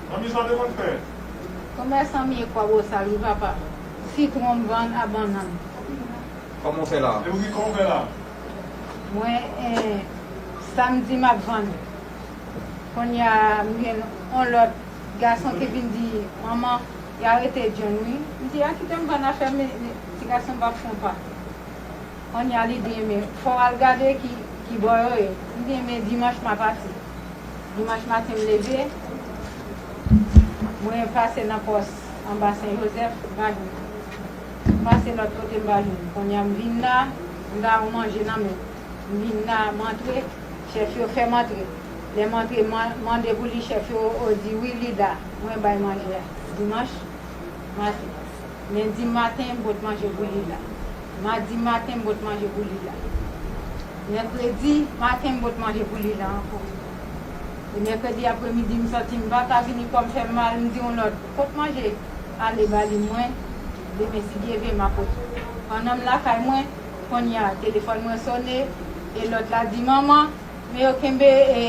Manmi sa w te konn fè? Komèsan m ye kwa bosal wi papa. Sitwon m vann a bannann. Koman w fè la? E ou ki koman w fè la? Mwen en samdi map vann. Konnya m jwenn on lòt gason ki vin di manman y arete John wi. M di a kite m vann afè m ti gason m pap fon pa. Konnya li di enben fò w al gade ki bò yo ye. M di enben dimanch ma pati. Dimanch maten m leve, mwen pase nan pòs anba Sen Jozèf, m pa jwenn. M pase lòt kote m pa jwenn. Kounye a m vin la, m ta yon manje nan men m. M vin la, m antre, chèf yo fè m antre. Lè m antre, m mande pou li, chèf yo di wi li la. Mwen bay manje a. Dimanch maten. Lendi maten m pot manje pou Lila. Madi maten m pot manje pou Lila. Mèkredi maten m pot manje pou Lila ankò. E mèkredi apremidi m santi m pa ka vini kò m fè m mal m di yon lòt pot manje ale ba li mwen demen si Dye ve m a pot. Pandan m lakay mwen konnya telefòn mwen sone e lòt la di manman men yo kenbe e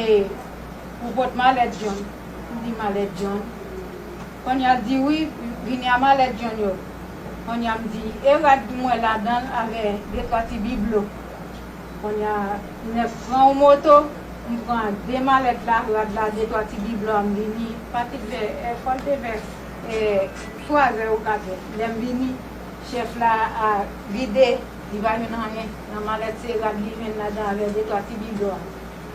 pou pot malèt John. M di malèt John. Konya di wi vini a malèt jhon yo konya m di e rad m wè ladanl avè de twa ti biblo konya 9 pran on moto m pran ak de malèt la rad la de twa ti biblo a m vini patik vè è fòl te vè è twazè ou katrè lèm vini chèf la a vide li pa jwenn anyen nan malèt se rad li jwenn ladan avè de twa ti biblo a.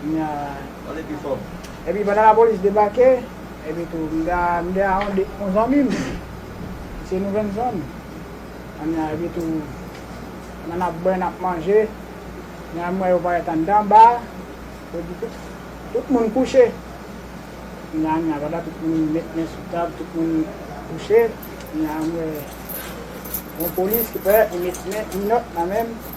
Pale pi fò. Epi pandan lapolis debake, epi tou m ta m te a yon zanmi m, se nou jwenn zòn, anna epi tou pandan n ap bwè, n ap manje, anna m wè yo parèt anndan ba a, yo di tout tout moun kouche, anna anna pandan tout moun met men sou tab, tout moun kouche, anna m wè yon polis ki parèt, li met men minòt nan men m.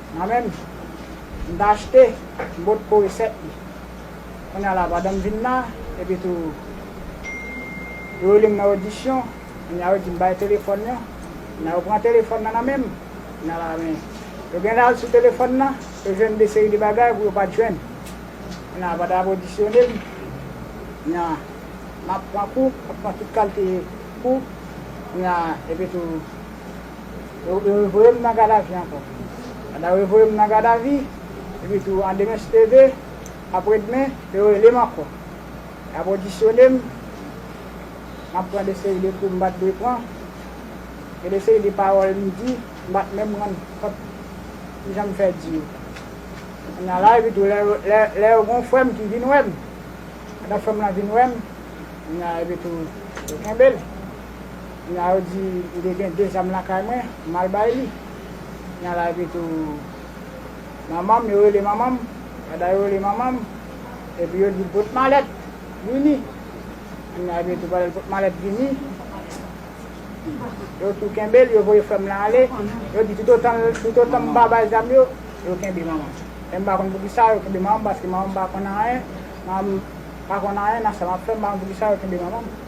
Mwen menm, m ta achte bot pou resèt li. Kounye a la madan m vin la, epitou yo rele m nan odisyon, kounye a yo di m bay telefòn yo, kounye a yo pran telefòn nan nan men m, kounye a la men yo gen lè al sou telefòn nan, yo jwenn de seri de bagay pou yo pa t jwenn. Kounye a pandan y ap odisyone m, kounye a m ap pran kou, m ap pran tout kalte kou, kounye a epitou Yo revoye m nan Gadavi ankò. Pandan yo revoye m nan Gadavi, epi tou an demen se te ve, apre demen, yo rele m ankò. Y ap odisyone m, m ap pran de seri de kou m pa t dwe pran. Gen de seri de pawòl m di, m pa t menm rann kont ki jan m fè di yo. Kounye a la, epi tou lè yo, lè, lè yo gen yon frè m ki vin wè m, pandan frè m lan vin wè m, kounye a, epi tou, yo kenbe l. Nya yo di m te gen 2 zam lakay mwen, m al bay li. Nya la epi tou manman m, yo rele manman m, dada yo rele manman m, epi yo di l pot malèt vini. Nya epi tou pandan l pot malèt vini, yo tou kenbe l, yo voye frè m lan ale, yo di toutotan l, toutotan m pa bay zam yo, yo kenbe manman m. Men m pa konn poukisa yo kenbe manman m paske manman m pa konn anyen, manman m pa konn anyen nan sa m ap fè, m pa konn poukisa yo kenbe manman m.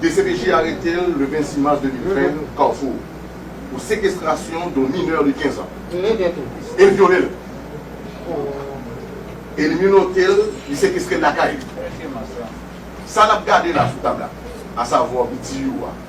Dcpj arete l le 26 mas 2020 Carrefour pou sekestrasyon don minè de 15 an e l vyole l e li menote l, li sekestre l lakay li. Sa n ap gade la sou tab la, asavwa bgy yo a.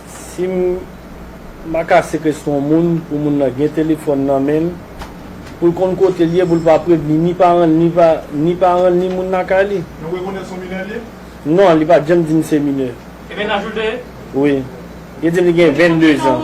Sim Maka sekestre yon moun pou moun nan gen telefòn nan menl poul konn kotel ye poul pa prevni ni paranl ni pa ni paranl ni moun lakay li. Nou rekonèt son minè li ye? Non li pat janm dim se minè. Ebyen laj ou l te ye? Wi. Yo dim li gen 22 zan.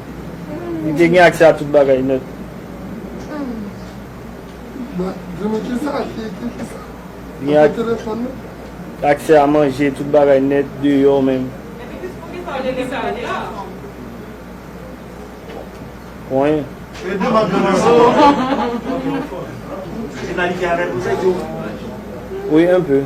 Li te gen aksè a tout bagay nèt. Li gen aksè a manje, tout bagay nèt, deyò menm. Konyen. Wi, enpe.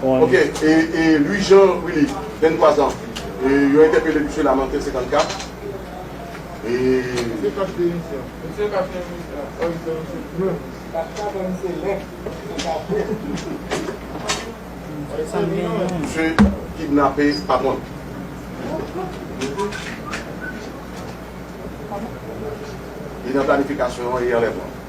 Ok e Louis Jean Willy 23 ans yo entèpele misye la nan tè 54 misye kidnape patron l. Li nan planifikasyon e anlèvman.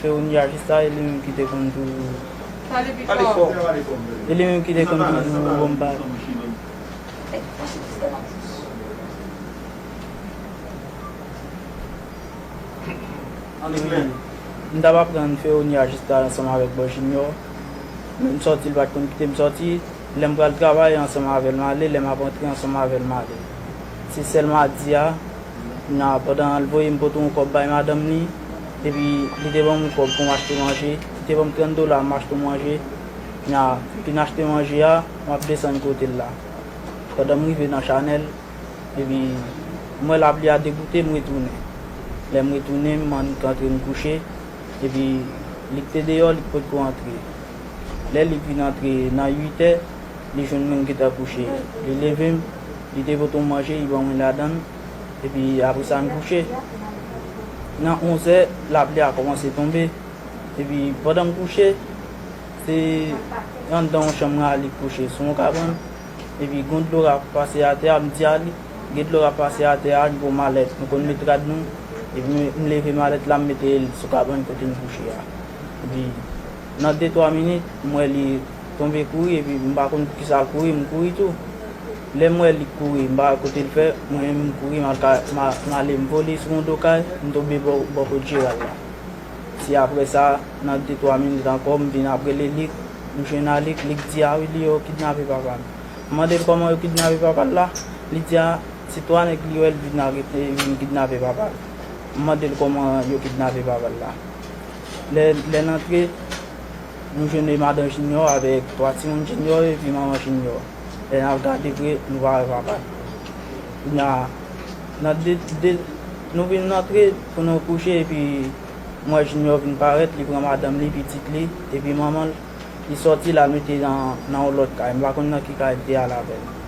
Se ou nya jis la e li menm ki te konn toujou pale fò e li menm ki te konn toujou bon bagay m tap aprann fè ou nya jis la ansanm avèk bò jinyò menm sòti l pat konn kite m sòti lè m pral travay ansanm avè l m ale lè m ap antre ansanm avè l m ale. Se sèl madi a, na pandan l voye m pote yon kòb bay madanm li, epi li te ban m yon kòb pou m achte manje, li te ban m 30 dola m achte yon manje, na fin achte manje a, m ap desann kote l la, pandan m rive nan chanèl, epi m wè lapli a degoute m retounen, lè m retounen m annik antre m kouche, epi Lik te deyò Lik pot ko antre, lè Lik vin antre nan 8 è li jwenn mwen m gentan kouche, li leve m Li te pote yon manje, li ban mwen ladan l, epi apre sa n kouche. Nan onzè, lapli a kòmanse tonbe, epi pandan m kouche, se anndan yon chanm Arly kouche sou yon kabann, epi gon dlo k ap pase atè a, m di Arly, gen dlo k ap pase atè a, ann pran malèt nou konn met rad nou, epi m leve malèt la m mete l sou kabann kote m kouche a, epi nan detwa minit m wè li. tonbe kouri epi m pa konn poukisa l kouri m kouri tou lè m wè li kouri m pa wè kote l fè mwen menm m kouri m ale m vole sou yon do kay m tonbe bò kot Jeral la se aprè sa nan de twa minit ankò m vin ap rele Lik m jwenn a Lik Lik di a wi li yo kidnape papa m m mande l kòman yo kidnape papa l la li di a se 3 nèg li wè li vin kidnape papa l m mande l kòman yo kidnape papa l la lè n antre. Nou jwenn madan Jinyò avèk 3 timoun Jinyò epi manman Jinyò. Lè n ap gade vre, nou pa wè papa l. Kounye a, nan de, de, nou vin antre pou nou kouche epi m wè Jinyò vin parèt, li pran madanm li, pitit li, epi manman l, li sòti l al mete nan yon lòt kay. M pa konn nan ki kay l te al avè l.